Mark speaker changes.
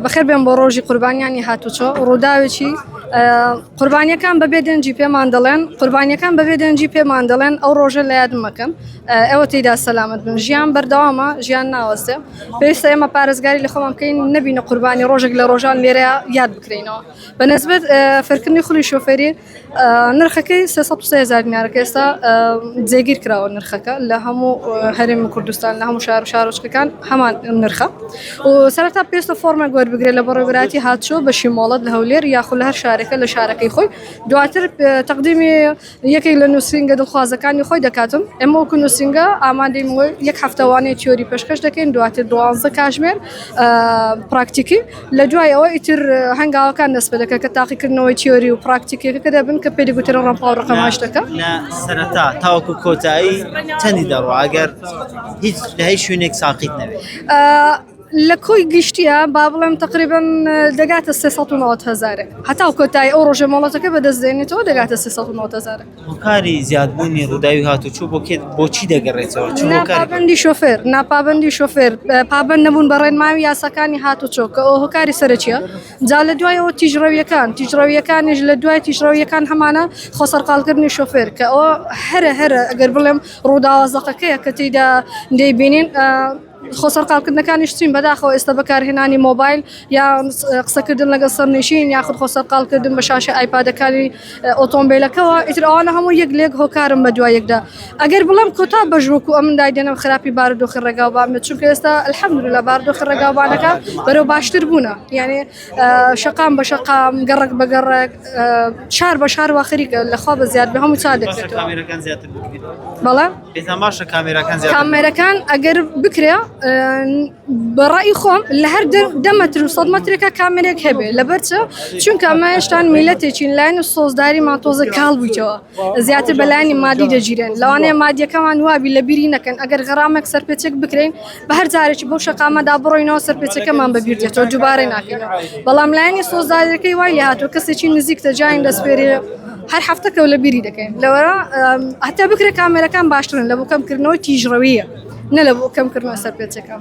Speaker 1: بەخێر بێن بۆ ڕۆژی قوربانیانی هاتوچۆ ڕووداوێکی قوربانیەکان بەبێ دەنجی پێمان دەڵێن قوربانیەکان بەبێ دەنجی پێمان دەڵێن ئەو ڕۆژە لە یاد مەکەن ئەوە تێدا سەلامت بن ژیان بەردەوامە ژیان ناوەستێ پێویستە ئێمە پارێزگاری لە خۆمان بکەین نبینە قوربانی ڕۆژێک لە ڕۆژان لێرە یاد بکرینەوە بە نسبت فەرکردنی خولی شوفێری نرخەکەی سێ سەد و سێ هەزار دینارە کە ئێستا جێگیر کراوە نرخەکە لە هەموو هەرێمی کوردستان لە هەموو شار و شارۆچکەکان هەمان نرخە و سەرەتا پێستە فۆرمێک وەربگرێت لە بەڕێوەبەراتی هاتچۆ بە شیمۆڵەت لە هەولێر یاخود لە هەر شارێکە لە شارەکەی خۆی دواتر تەقدیمی یەکێک لە نووسینگە دڵخوازەکانی خۆی دەکاتم ئێمە وەکو نووسینگە ئامادەی یەک هەفتەوانەی تیۆری پێشکەش دەکەین دواتر دوازدە کاژمێر پراکتیکی لە دوای ئەوە ئیتر هەنگاوەکان دەست پێ دەکات کە تاقیکردنەوەی تیۆری و پراکتیکیەکە کە دەبن کە پێی دەگوترێن ڕەمپا و ڕقەم هەشت دەکە. لە سەرەتا
Speaker 2: تاوەکو کۆتایی چەندی دەڕوا ئەگەر هیچ لە هیچ شوێنێک ساقیت نەبێت؟ لە
Speaker 1: کۆی گشتیە با بڵێم تقریبن دەگاتە 390 هزارێک هەتا کۆتایی ئەو ڕۆژە مۆڵەتەکە بەدەست دێنێتەوە دەگاتە 390 هزارێک. هۆکاری
Speaker 2: زیادبوونی ڕووداوی هاتوچۆ بۆ کێ بۆ چی دەگەڕێتەوە چ هۆکارێک ناپابەندی شۆفێر
Speaker 1: ناپابەندی شۆفێر اه، پابەند نەبوون بە ڕێنمایی و یاساکانی هاتوچۆ کە ئەو هۆکاری سەرەکیە جا لە دوایەوە تیژڕەویەکان تیژڕەویەکانیش لە دوای تیژڕەویەکان هەمانە خۆ سەرقاڵکردنی شۆفێر کە ئەوە هەرە هەرە ئەگەر بڵێم ڕووداوە زەقەکەیە کە تێیدا دەیبینین اه، خۆ سەرقاڵکردنەکانیش چین؟ بەداخەوە ئێستا بەکارهێنانی مۆبایل یا قسەکردن لەگەڵ سەرنشین یاخود خۆ سەرقاڵکردن بە شاشە ئایپادەکانی ئۆتۆمبیلەکەەوە ئیتر ئەوانە هەموو یەک لێک هۆکارم بە دوای یەکدا ئەگەر بڵێم کۆتا بەژوەکو ئەم دای دێنم خراپی بارودۆخی ڕێگاوبان بێت چونکە ئێستا الحەمدللە لە بارودۆخی ڕێگاوبانەکە بەرەو باشتر بوونە یعنی شەقام بە شەقام گەڕک بە گەڕک شار بە شار واخریکە لەخوا بە زیاد بە هەموو چا دەکرێت بەڵێ پێتان باشە
Speaker 2: کامێراکان زیاتر کامێرەکان
Speaker 1: ئەگەر بکرێ ئە، بەڕای خۆم لە هەر دە- دە مەتر و سەد مەترێکە کامێرێک هەبێ لەبەر چ چونکە ئەمە هێشتان میلەتێکین لایەن و سۆزداری ماتۆزە کاڵ بوویتەوە زیاتر بەلایانی مادی دەگیرێن لەوانەیە مادیەکەمان وابی لە بیری نەکەن ئەگەر غەرامێک سەرپێچێک بکرین بە هەر جارێکی بەو شەقامەدا بڕۆینەوە سەرپێچەکەمان بەبیر دێتەوە دووبارەی ناکەینەوە بەڵام لایەنی سۆزدارەکەی وای لێهاتوو کەسێکی نزیکتە جاین دەسپێرێ هەر هەفتە کەو لە بیری دەکەین لەوەرا هەتا بکرێت کامێرەکان باشترن لە بۆ کەمکردنەوەی تیژڕەویە نە لە بۆ کەمکردنەوە سەرپێچەکان.